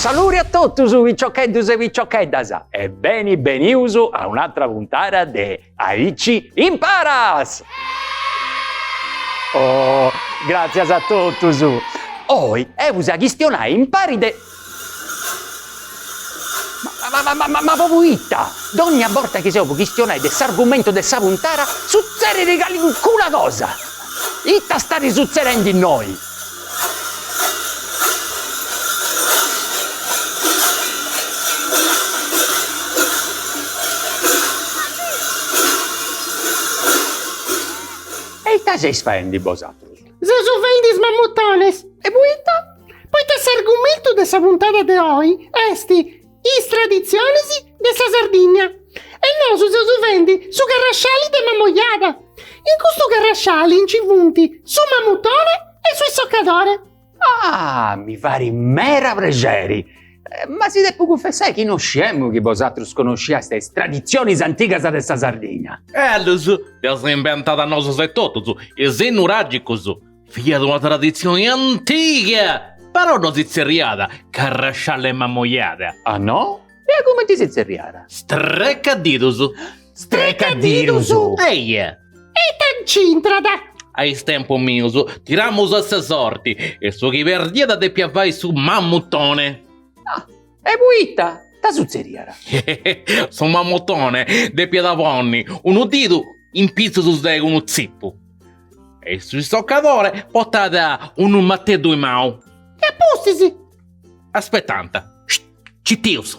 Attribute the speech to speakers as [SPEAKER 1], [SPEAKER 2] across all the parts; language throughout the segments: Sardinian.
[SPEAKER 1] Saluri a totus piciocheddus e piciocheddas e beni benius a un'atra puntada de Aici imparas! Oh, gràtzias a totus! Oi eus a chistionai impari de. Ma propriu ita? Dònnia borta chi seus po chistionai de s'argumentu de sa puntara sutzerit calincuna cosa! Ita starit sutzedenti innoi? E ita seis faendi bosatrus? Seus
[SPEAKER 2] fendi is mamutones! E
[SPEAKER 1] poita?
[SPEAKER 2] Poita s'argumentu de sa puntada de oi est Is traditzionis de sa Sardigna e nosu seus fendi su carrasciali de Mamojada. In custu carrasciali nci funt su mamutone e su issocadore. Ah,
[SPEAKER 1] mi farit mera prexeri! Eh, ma si depu cunfessai chi non sciemu chi bosatrus conosciastis is traditzionis antigas de sa Sardigna. Ellus, dd'eus
[SPEAKER 3] imbentada nosus etotus, is nuràgicus. Fiat una traditzioni antiga, però no si tzerriat carrasciali 'e Mamojada. Ah
[SPEAKER 1] no? E cumenti si tzerriat? Strecadidus.
[SPEAKER 3] Strecadidus?
[SPEAKER 1] Eia.
[SPEAKER 3] E
[SPEAKER 2] ita nc'intrat? A
[SPEAKER 3] is tempus mius tiramus a sa sorti e su chi perdiat depiat fai su mammutone. Ah,
[SPEAKER 1] e poita? Ita sutzeriat? Su
[SPEAKER 3] mammutone depiat ponni unu didu in pitzus de unu tzipu e su issoccadore portat unu mateddu in manu. E a pustis?
[SPEAKER 2] Aspettant.
[SPEAKER 3] Scit! Citius!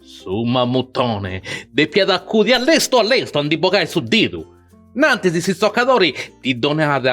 [SPEAKER 3] Su mammutone depiat acudi a lestu a lestu a ndi bogai su didu, nantis s'issoccadori ddi donat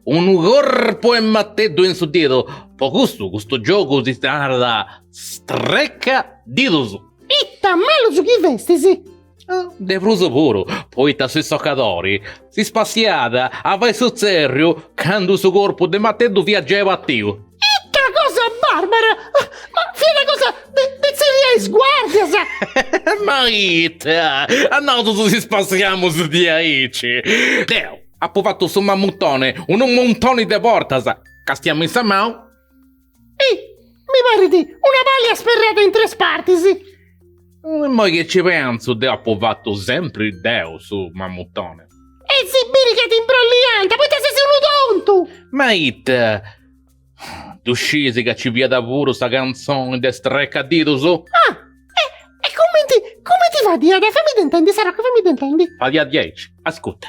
[SPEAKER 3] unu corpu 'e mateddu in su didu, po custu custu giogu si ddi narat strecca didus. Ita
[SPEAKER 2] malus chi festis! De
[SPEAKER 3] prus puru, poita su issocadori si spassiat a fai su tzèrriu candu su corpu de mateddu fiat giai batiu. Ita cosa
[SPEAKER 2] bàrbara! Ma fiat una cosa de tzerriai a is guàrdias!
[SPEAKER 3] Ma ita! A nosu si spassiamus diaici! Deu apu fatu su mammutoni unu muntoni de bortas, càstia-mì sa manu.
[SPEAKER 2] Hi! Mi parit una pàlia sperrada in tres partis!
[SPEAKER 3] Immoi chi ci pentzu, deu apu fatu sempri deu su mammutone. E si biri
[SPEAKER 2] ca t'imbrolliant, poita ses unu tontu! Ma
[SPEAKER 3] ita, ddu sciis ca ci fiat puru sa cantzoni de Strecadidus?
[SPEAKER 2] Ah! E cumenti, cumenti fadiat? Famidda intendi, Sarocca, famidda intendi. Fadiat diaici,
[SPEAKER 3] ascuta.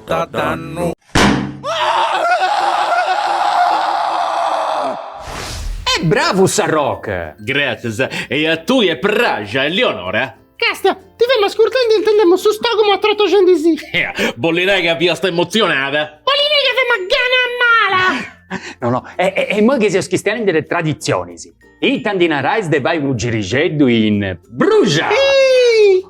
[SPEAKER 4] Ta
[SPEAKER 1] dannu. E bravu Sarroch! Gràtzias! E
[SPEAKER 3] a tui est pràxia, Elionora? Castia, ti
[SPEAKER 2] femu ascurtendi e intendemu su stògumu atrotoxendi-sì. Ea, bolli nai
[SPEAKER 3] ca fiast emotzionada? Bolli nai ca femu
[SPEAKER 2] a gana mala! No no, e e immoi
[SPEAKER 1] chi seus chistianendi de traditzionis, ita ndi narais de fai unu girixeddu in Bruxa! Iih!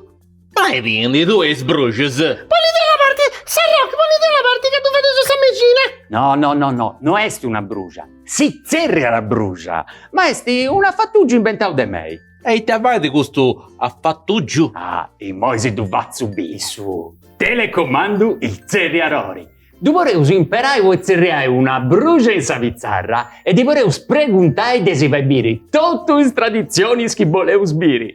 [SPEAKER 3] Ma e bai-ndi tui e is bruxas. Bollit una
[SPEAKER 2] parti, Sarroch bollit una parti ca ddu fadeus sa mexina. No no no no,
[SPEAKER 1] no est una bruxa, si tzerriat bruxa, ma est un afatuggiu imbentau de mei. E ita fait custu
[SPEAKER 3] afatuggiu? Ah,
[SPEAKER 1] immoi si ddu fatzu biri. Su telecomandu il tzerriadori. Ddu podeus imperai po tzerriai una bruxa in sa pitzarra e ddi podeus preguntai de si fai biri totu is traditzionis chi boleus biri.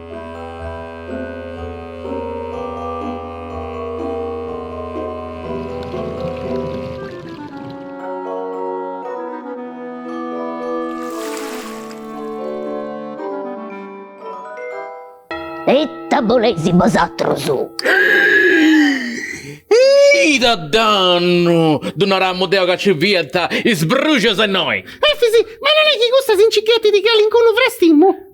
[SPEAKER 5] E ita boleis
[SPEAKER 3] bosatrus? Ita dannu! Ddu naramu deu ca nci fiant is bruxas innoi! Efis, ma non
[SPEAKER 2] est chi custa si nci ghetit calincunu frastimu?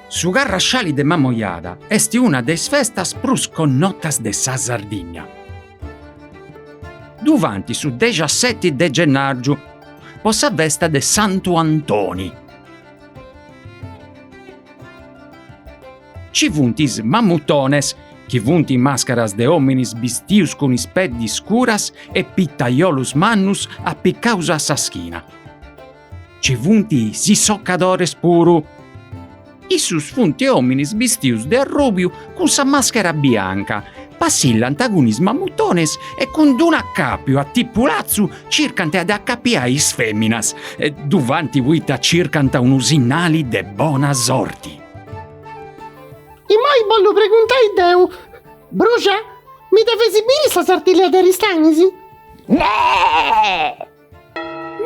[SPEAKER 6] Su Carrasciali de Mamoiada est una de is festas prus connotas de sa Sardìnnia. Ddu faint su dexaseti de gennàrgiu po sa festa de Santu Antoni. Ci funt is Mammutones, chi funt màscaras de òminis bistius cun is peddis scuras e pitaiolus mannus apicaus a sa schina. Ci funt is issocadores puru. Issus funt ominis bistius de arrubiu cun sa maschera bianca, passillant cun is mamutones e cun d-unu acapiu a tipu latzu circant de acapiai is feminas, ddu fant poita circant unu sinnali de bona
[SPEAKER 2] sorti. Imoi bollu preguntai deu, Bruxa, mi dda fais biri sa Sartiglia de Aristanis? Neh!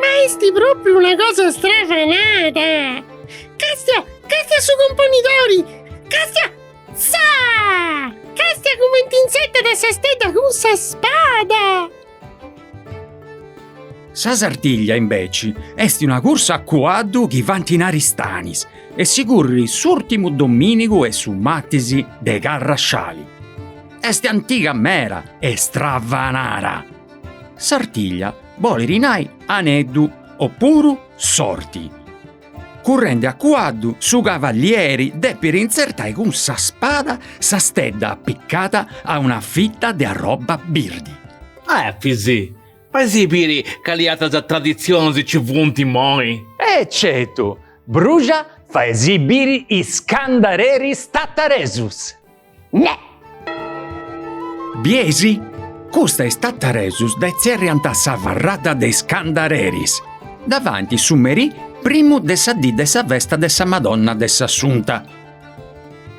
[SPEAKER 2] Ma est propriu una cosa stravanada! Castia, castia su cumponidori! Castia! Saa! Castia cumenti intzertat a sa stedda cun sa spada!
[SPEAKER 6] Sa Sartiglia, imbeci, est una cursa a cuaddu chi faint in Aristanis e si currit s'ùrtimu domìnigu e su martis de Carrasciali. Est antiga meda e stravanada! Sartiglia bolit nai aneddu o puru sorti. Currendi a cuaddu su cavalieri depit intzertai cun sa spada sa stedda appiccada a una fitta de arrobba birdi.
[SPEAKER 3] Efis, faisì biri cali atras traditzionis ci funt immoi. E certu,
[SPEAKER 1] Bruxa faisì biri is candareris tataresus.
[SPEAKER 6] Neh! Bieis? Custa is Tattaresus dda tzerriant sa farrada de is Candareris, dda faint su merì primu de sa dì de sa festa de sa Madonna de s'Assunta.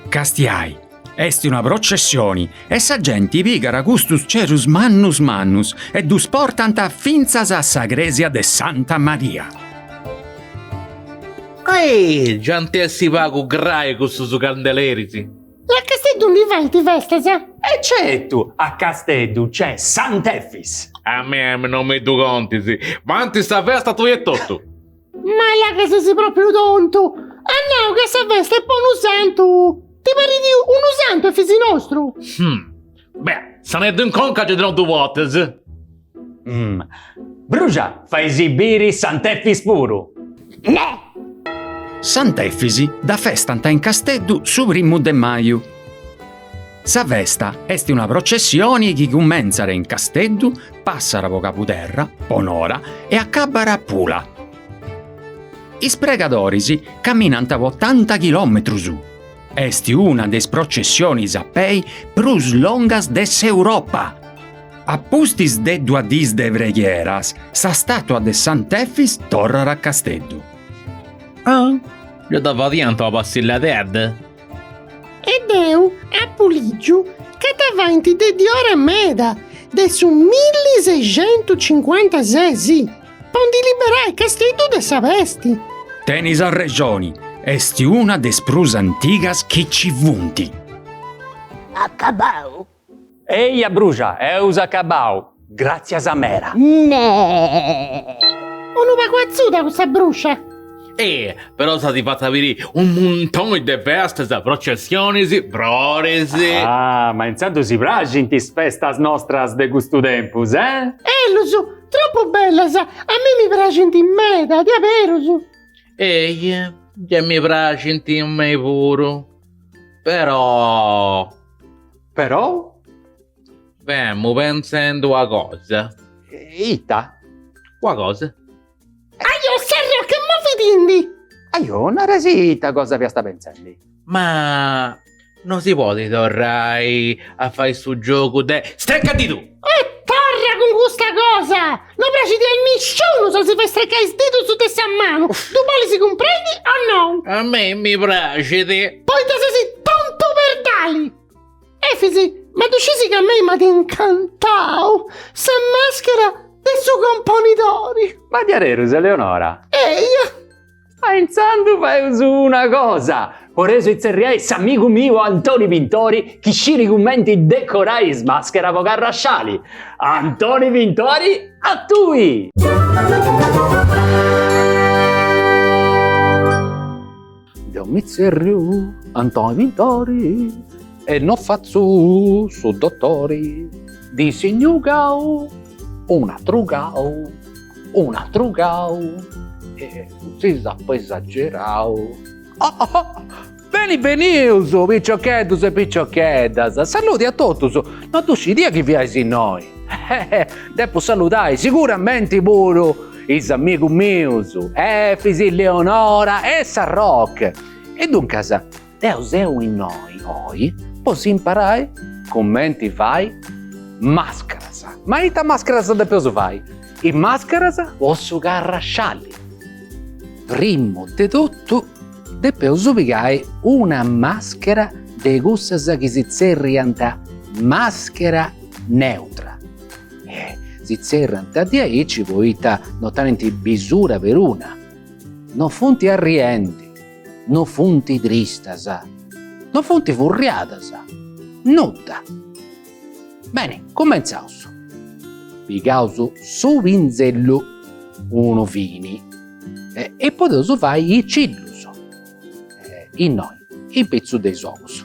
[SPEAKER 6] Castiai, est una processioni e sa genti pigat custus cerus mannus mannus e ddus portant fintzas a sa cresia de Santa Maria.
[SPEAKER 3] Ahi! Già ant a essi pagu grai cussus candeleris! E a
[SPEAKER 2] Casteddu ndi faint festas? E certu!
[SPEAKER 1] A Casteddu nc'è Sant'Efis! A
[SPEAKER 3] mei non mi ddu contis! Faint sa festa tui etotu! Ma là
[SPEAKER 2] ca ses propriu tontu! At nau ca sa festa est po unu santu! Ti parit unu santu Efis nostru? Hum! Beh,
[SPEAKER 3] saneddu in conca gei tenot du bortas.
[SPEAKER 1] Mmm. Bruxa, faisì biri Sant'Efis puru.
[SPEAKER 6] Neh! Sant'Efis dda festant in Casteddu su primu de maju. Sa festa est una processioni chi cumentzat in Casteddu, passat po Cabuderra, po Nora e acabat a Pula. Is pregadoris caminant po otanta chilòmetrus. Est una de is processionis a pei prus longas de s'Europa. A pustis de duas dis de preghieras, sa stàtua de Sant'Efis torrat a Casteddu.
[SPEAKER 3] Ah, gei dda fadiant una passilladedda,
[SPEAKER 2] eh? E deu apu lìgiu ca dda faint de diora meda, de su milli seicentus cincuantases. Po ndi liberai Casteddu de sa pesti.
[SPEAKER 6] Tenis arrexoni, est una de is prus antigas chi nci funt. Acabau?
[SPEAKER 5] Eja
[SPEAKER 1] Bruxa, eus acabau, gràtzias meda.
[SPEAKER 5] Neh!
[SPEAKER 2] Unu pagu atzuda cussa Bruxa. Ehi,
[SPEAKER 3] però s'at fatu a biri unu muntoni de festas, processionis, froris. Ah, ma
[SPEAKER 1] intzandus si praxint is festas nostras de custu tempus, eh? Ellus!
[SPEAKER 2] Tropu bellas, a mei mi praxint meda, diaberus.
[SPEAKER 3] Ehi, già mi praxint a mei puru, però. Però? Femu pentzendi una cosa.
[SPEAKER 1] Ita?
[SPEAKER 3] Una cosa. Ajo,
[SPEAKER 2] Serra, che movitindi? Ajo, narasì
[SPEAKER 1] ita cosa fiasta pentzendi. Ma
[SPEAKER 3] no si podit torrai
[SPEAKER 2] a
[SPEAKER 3] fai su giogu de strecadiddu! E torra cun custa
[SPEAKER 2] cosa! No praxit a nisciunu sa si fai strecai is didus de sa manu! Ddu bolis cumprendi o no? A mei mi
[SPEAKER 3] praxit! Poita ses
[SPEAKER 2] tontu perdali! Efis, ma ddu scisi ca a mei m'at incantau sa maschera de su componidori! Ma diaderus,
[SPEAKER 1] Eleonora? Eia!
[SPEAKER 2] Ma
[SPEAKER 1] intzandus faeus una cosa, poreus itzerriai s'amigu miu Antoni Pintori chi sciri cumenti decorai is mascheras po carrasciali. Antoni Pintori a tui! Deu mi tzerriu Antoni Pintori e no fatzu su dotori, dissignu gau, un'atru gau. Un'atru gau e si s'apo esagerau. Beni benius piciocheddus e piciocheddas, saludi a totus, no ddu scidia chi fiais innoi. Depu saludai siguramenti puru is amigus mius Efis, Eleonora e Sarroche. E duncas Deo seu innoi oi po si imparai cumenti fai mascaras. Ma ita mascaras depeus fai? Is mascaras po su carrascialli. Primu de totu depeus pigai una maschera de cussas chi si tzerriant maschera neutra. E si tzerriant diaici poita no tenint bisura peruna. No funt arriendi. No funt tristas. No funt furriadas. Nudda. Beni, cumentzaus. Pigaus su pinzellu. Unu fini. E podeus fai is cillus. Innoi, in pitzus de is ogus.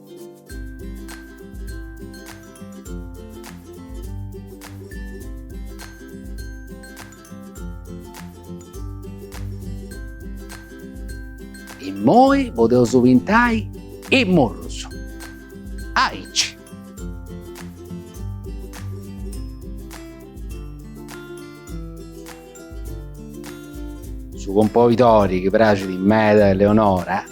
[SPEAKER 1] Immoi podeus pintai is murrus. Aici. Su componidori chi praxit meda a Eleonora.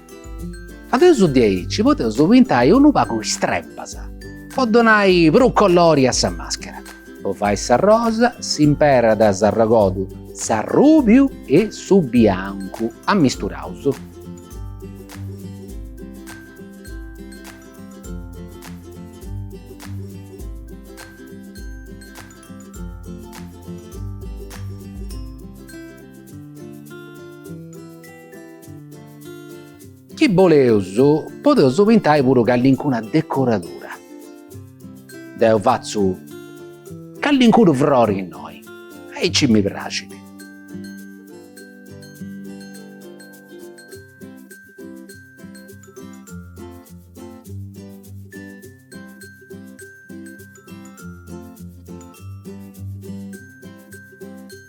[SPEAKER 1] Fadeus diaici podeus pintai unu pagu is trempas po donai prus colori a sa maschera. Po fai s'arrosa s'imperat s'arrogodu, s'arrubiu e su biancu ammisturaus.
[SPEAKER 7] Chi boleus podeus pintai puru callincuna decoradura. Deu fatzu callincunu frori innoi, aici mi praxit.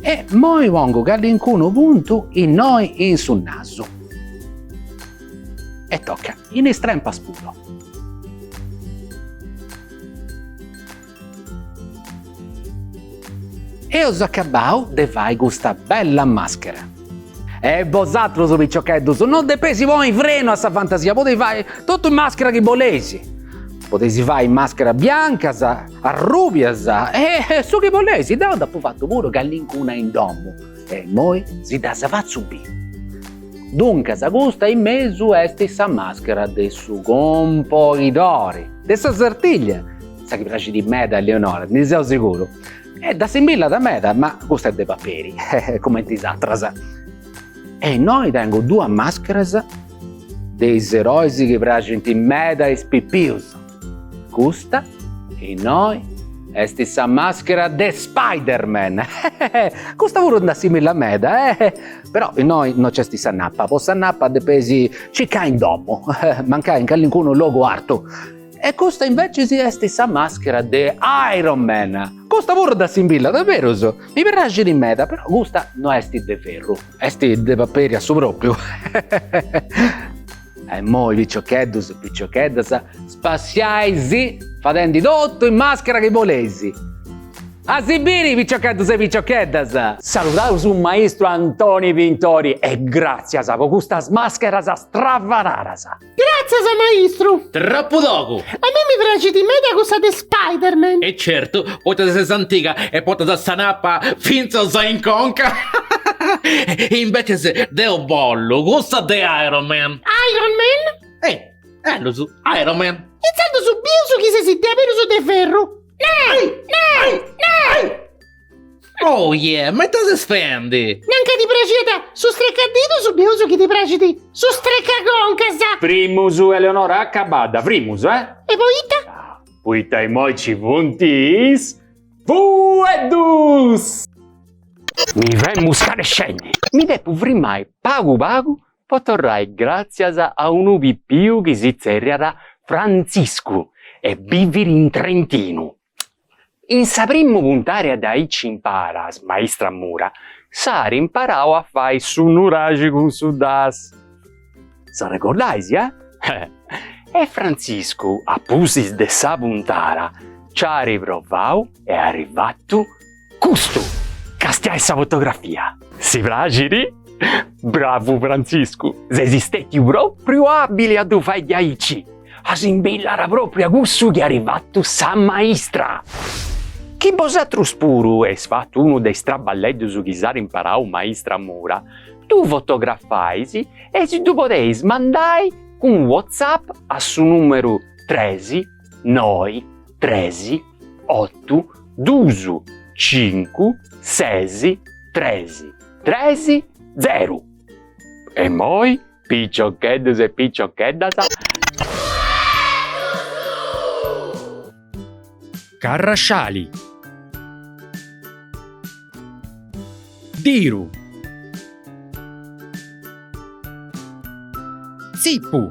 [SPEAKER 7] E immoi pongu callincunu puntu innoi in su nasu. E toca in is trempas puru. Eus acabau de fai custa bella maschera. E bosatrus piciocheddus no depesi poni frenu a sa fantasia, podesi fai totu is mascheras chi bolesi, podesi fai mascheras biancas, arrubias e su chi bolesi, deu nd'apu fatu puru callincuna in domu e immoi si ddas fatzu biri. Duncas custa in mesu est sa maschera de su compoidori, de sa sartiglia, sa chi praxit meda a Leonora, ndi seu seguru. E dd'assimbillat meda, ma custa est de paperi, cumenti is atras. E innoi tengu duas mascheras de is erois chi praxint meda a is pipius. Custa, innoi, est sa maschera de Spiderman, custa puru dd'assimillat meda, però innoi no nc'est sa nappa, po sa nappa depesi circai in domu, mancai in callincunu logu artu. E custa invecis est sa maschera de Iron Man. Custa puru dd'assimbillat diaberus, mi praxit meda, però custa no est de ferru, est de paperi a su propriu. E immoi piciocheddus e piciocheddas spassiai-sì fadendi totu is mascheras chi boleis. A si biri piciocheddus e piciocheddas! Saludaus su
[SPEAKER 1] maistru Antoni Pintori e gràtzias po custas mascheras stravanaras!
[SPEAKER 2] Gràtzias maistru! Troppu
[SPEAKER 3] togu! A me mi
[SPEAKER 2] praxit meda cussa de Spiderman! E
[SPEAKER 3] certu, poita ses antiga e portas sa nappa fintzas in conca! Invecis deu bollu cussa de Iron Man! Iron
[SPEAKER 2] Man? E, ellus,
[SPEAKER 3] Iron Man! Intzandus bius
[SPEAKER 2] chi ses diaberus de ferru! Nai! Nai! Nai!
[SPEAKER 3] Oia, ma ita ses fendi? Nanca ti
[SPEAKER 2] praxiat su strecadidus bieus chi ti praxit su strecaconcas. Primus Eleonora
[SPEAKER 1] acabadda primus eh. E poita?
[SPEAKER 2] Poita immoi
[SPEAKER 1] ci funt is fueddus. Mi femu scarescendi. Mi depu frimai pagu pagu po torrai gràtzias a unu pipiu chi si tzerriat Frantziscu e bivit in Trentinu. In sa primu puntara de Aici imparas, maistra Mura, s'at imparau a fai su nuraxi cun su das. S'arregordais, eh? E Frantziscu, a pustis de sa puntara, nci at provau e at fatu Custu castiai sa fotografia. Si praxit? Bravu Frantziscu, ses istetiu propriu abili a ddu fai diaici, assimbillat propriu a cussu chi at fatu sa maistra. Chi bosatrus puru eis fatu unu de is traballeddus chi s'at imparau maistra Mura, ddu fotografais e si ddu podeis mandai cun WhatsApp a su numeru tres noi, tresi, ottu, dusu, cincu, sesi, tresi, tresi, zeru. E immoi, piccioccheddus e piccioccheddas.
[SPEAKER 6] Carrasciali. Diru. Zippu.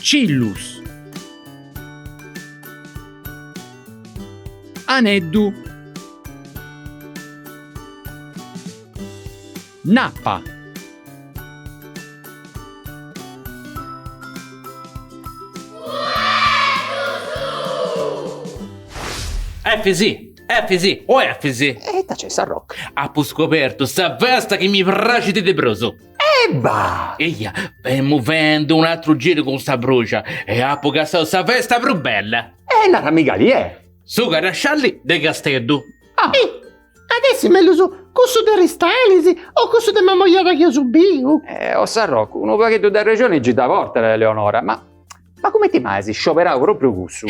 [SPEAKER 6] Cillus Aneddu Nappa
[SPEAKER 3] Efisi Efisi o Efisi! E ita nc'est Sarrocu?
[SPEAKER 1] Apu scobertu
[SPEAKER 3] sa festa chi mi praxit de prus!
[SPEAKER 1] Ebba!
[SPEAKER 3] Eia, femu fendu un'atru giru cun sa bruxa e apu cassau sa festa prus bella! E narami cali è!
[SPEAKER 1] Su carrasciali
[SPEAKER 3] de Casteddu! Ah! E
[SPEAKER 2] at essi mellus cussu de Aristanis o cussu de Mamoiada chi eus biu? O
[SPEAKER 1] Sarrocu, unu pagheddu de arrexoni gi dda portat, Eleonora, ma cumenti mai as scioberau propriu cussu?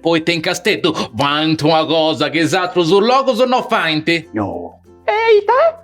[SPEAKER 1] Poita
[SPEAKER 3] in Casteddu faint una cosa chi is atrus logus no faint! No! E
[SPEAKER 1] ita?